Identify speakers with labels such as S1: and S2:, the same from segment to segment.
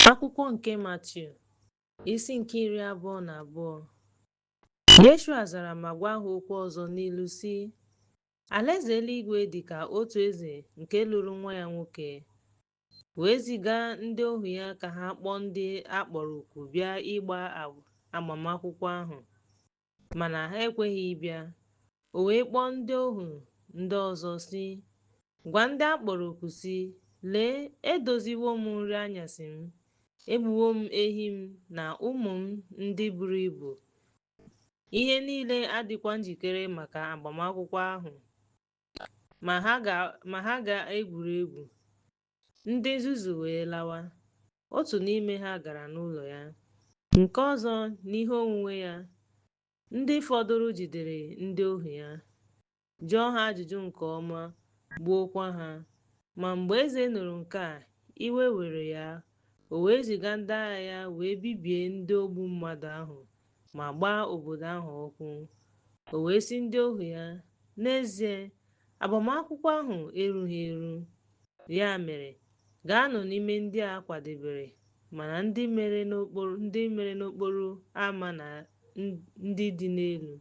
S1: Akwụkwọ nke Matiu, isi nke iri abụọ na abụọ. Yeshua zara ma gwa ha okwu ọzọ n'ilu sị, Alaeze eluigwe dị ka otu eze nke lụrụ nwa ya nwoke, wee ziga ndị ohu ya ka ha kpọọ ndị a kpọrọ oku bịa ịgba agbamakwụkwọ ahụ. Mana ha ekweghị ịbịa. O wee kpọọ ndị ohu ndị ọzọ sị, Gwa ndị a kpọrọ oku sị, Lee, edoziwo m nri anyasị m, egbuwo m ehi m na ụmụ m ndị buru ibu. Ihe niile adịkwa njikere maka agbamakwụkwọ ahụ. Ma ha ga-egwuri egwu. Ndị nzuzu wee lawa. Otu n'ime ha gara n'ụlọ ya, nke ọzọ n'ihe onwunwe ya. Ndị fọdụrụ jidere ndị ohu ya, jụọ ha ajụjụ nke ọma, gbuokwa ha. Ma mgbe eze nụrụ nke a, iwe were ya, o wee ziga ndị agha ya wee bibie ndị ogbu mmadụ ahụ ma gbaa obodo ahụ ọkụ. O wee sị ndị ohu ya, N'ezie, agbamakwụkwọ ahụ erughị eru. Ya mere, gaanụ n'ime ndị a kwadebere mana ndị mere n'okporo ama na ndị dị n'elu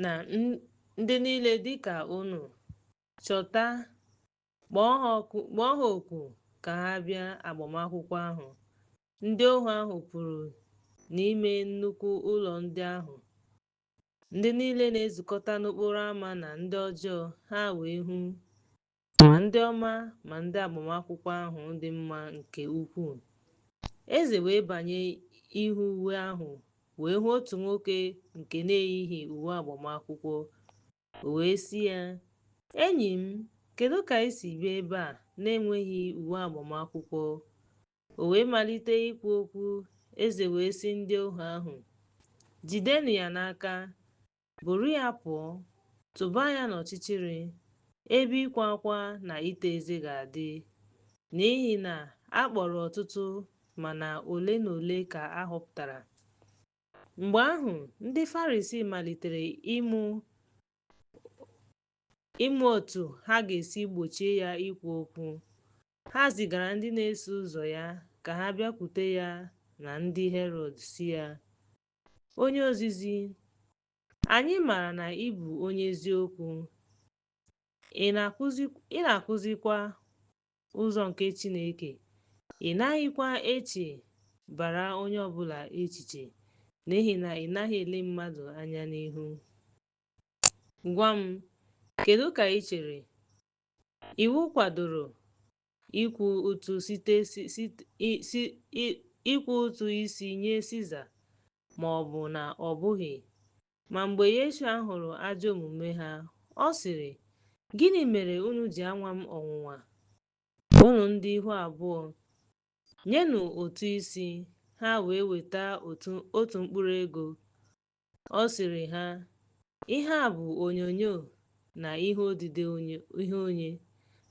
S1: na ndị niile dịka unu chọta kpọọ ha oku ka ha bịa agbamakwụkwọ ahụ ndị ohu ahụ pụrụ n'ime nnukwu ụlọ ndị ahụ ndị niile na-ezukọta n'okporo ámá na ndị ọjọọ ha wee hụ ma ndị ọma ma ndị agbamakwụkwọ ahụ dị mma nke ukwuu eze wee banye ịhụ uwe ahụ wee hụ otu nwoke nke na-eyighị uwe agbamakwụkwọ O wee sị ya, Enyi m, kedu ka i si bịa ebe a na-enweghị uwe agbamakwụkwọ? O wee malite ikwu okwu, eze wee sị ndị ohu ahụ, Jidenụ ya n'aka, buru ya pụọ, tụba ya n'ọchịchịrị, ebe ịkwa akwa na ịta eze ga-adị, n'ihi na a kpọrọ ọtụtụ mana ole na ole ka a họpụtara. Mgbe ahụ, ndị Farisii malitere ịmụ otu ha ga-esi gbochie ya ikwu okwu. Ha zigara ndị na-eso ụzọ ya ka ha bịakwute ya na ndị Herọd sị ya, Onye ozizi, anyị maara na ị bụ onye eziokwu, ị na-akụzikwa ụzọ nke Chineke, ị naghịkwa echebara onye ọ bụla echiche, n'ihi na ị naghị ele mmadụ anya n'ihu. Gwa m, kedu ka i chere? Iwu kwadoro ịkwụ ụtụ site si, si, si, ịkwụ ụtụ isi nye Siza ma ọ bụ na ọ bụghị. Ma mgbe Yeshua hụrụ ajọ omume ha, ọ sịrị, Gịnị mere unu ji anwa m ọnwụnwa, unu ndị ihu abụọ? Nyenụ ụtụ isi, ha wee weta otu otu mkpụrụ ego. Ọ sịrị ha, Ihe a bụ onyonyo na ihe odide onye, ihe onye?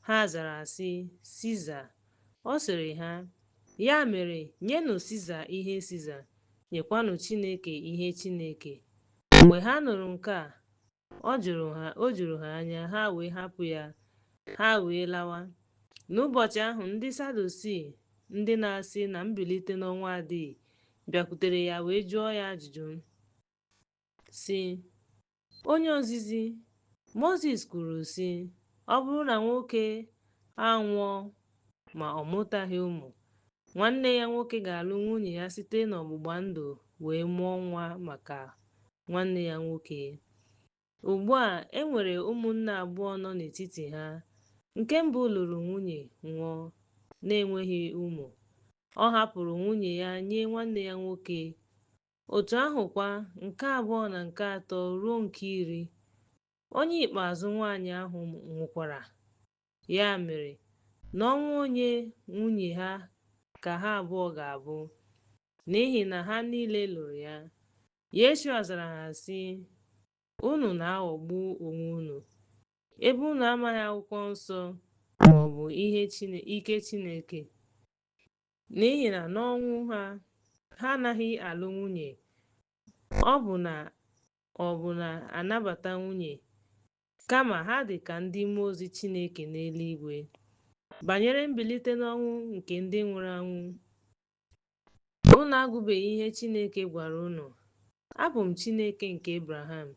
S1: Ha zara sị, Siza. Ọ sịrị ha, Ya mere, nyenụ Siza ihe Siza, nyekwanụ Chineke ihe Chineke. Mgbe ha nụrụ nke a, ọ jụrụ ha, o juru ha anya, ha wee hapụ ya, ha wee lawa. N'ụbọchị ahụ, ndị Sadusii, ndị na-asị na mbilite n'ọnwụ adịghị, bịakwutere ya wee jụọ ya ajụjụ, sị, Onye ozizi Mozis kwuru, sị, Ọ bụrụ na nwoke anwụọ ma ọ mụtaghị ụmụ, nwanne ya nwoke ga-alụ nwunye ya site n'ọgbụgba ndụ wee mụọ nwa maka nwanne ya nwoke. Ugbu a, e nwere ụmụnne abụọ nọ n'etiti ha. Nke mbụ lụrụ nwunye, nwụọ, na-enweghị ụmụ. Ọ hapụrụ nwunye ya nye nwanne ya nwoke, Otu ahụ kwa, nke abụọ na nke atọ ruo nke iri. Onye ikpeazụ nwanyị ahụ nwụkwara. Ya mere, n'ọnwụ onye nwunye ha ka ha abụọ ga-abụ? N'ihi na ha niile lụrụ ya. Yeshua zara ha sị, Unu na-aghọgbu onwe unu, ebe unu amaghị akwụkwọ nsọ ma ọ bụ ihe ike Chineke. N'ihi na n'ọnwụ ha, ha anaghị alụ nwunye, ọ bụ na ọ bụ na-anabata nwunye, kama ha dị ka ndị mmụọ ozi Chineke n'eluigwe. Banyere mbilite n'ọnwụ nke ndị nwụrụ anwụ, unu agụbeghị ihe Chineke gwara unu, Abụ m Chineke nke Abraham,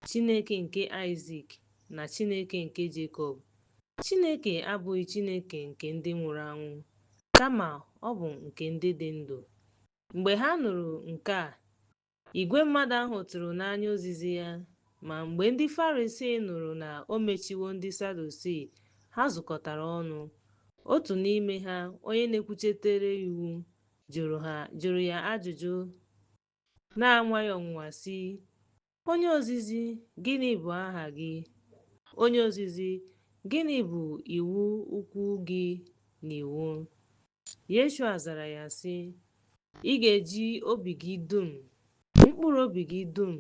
S1: Chineke nke Aịzik, na Chineke nke Jekọb. Chineke abụghị Chineke nke ndị nwụrụ anwụ, kama ọ bụ nke ndị dị ndụ. Mgbe ha nụrụ nke a, igwe mmadụ ahụ tụrụ n'anya ozizi ya. Ma mgbe ndị Farisii nụrụ na o mechiwo ndị Sadusii, ha zukọtara ọnụ. Otu n'ime ha, onye na-ekwuchitere iwu, jụrụ ha jụrụ ya ajụjụ Na-anwa ya ọnwụnwa sị, Onye ozizi, gịnị bụ aha gị? Onye ozizi, gịnị bụ iwu ukwu gị n'iwu? Yeshua zara ya sị, Ị ga-eji obi gị dum, mkpụrụ obi gị dum,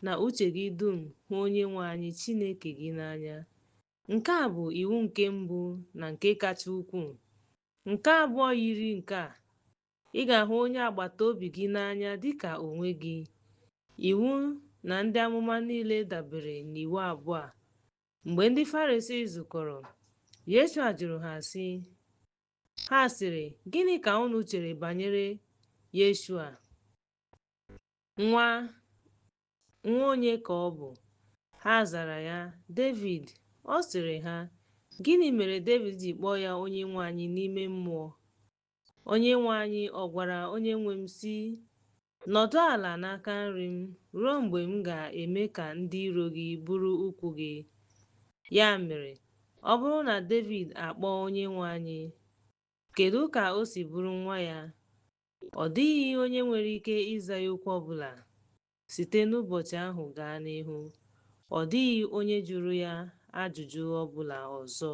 S1: na uche gị dum hụ onye nwe anyị Chineke gị n'anya. Nke a bụ iwu nke mbụ na nke kacha ukwuu. Nke abụọ yiri nke a, Ị ga-ahụ onye agbata obi gị n'anya dị ka onwe gị. Iwu na ndị amụma niile dabere n'iwu abụọ a. Mgbe ndị Farisii zukọrọ, Yeshua jụrụ ha sị, Ha sịrị, Gịnị ka unu chere banyere Yeshua? Nwa onye ka ọ bụ? Ha zara ya, Devid. Ọ sịrị ha, Gịnị mere Devid ji kpọọ ya onye nwe anyị n'ime mmụọ? Onyenwe anyị ọ gwara onyenwe m sị, Nọdụ ala n'aka nri m ruo mgbe m ga-eme ka ndị iro gị bụrụ ụkwụ gị. Ya mere, ọ bụrụ na Devid akpọọ onyenwe anyị, kedụ ka o si bụrụ nwa ya? Ọ dịghị onye nwere ike ịza ya okwu ọbụla. Site n'ụbọchị ahụ gaa n'ihu, ọ dịghị onye jụrụ ya ajụjụ ọbụla ọzọ.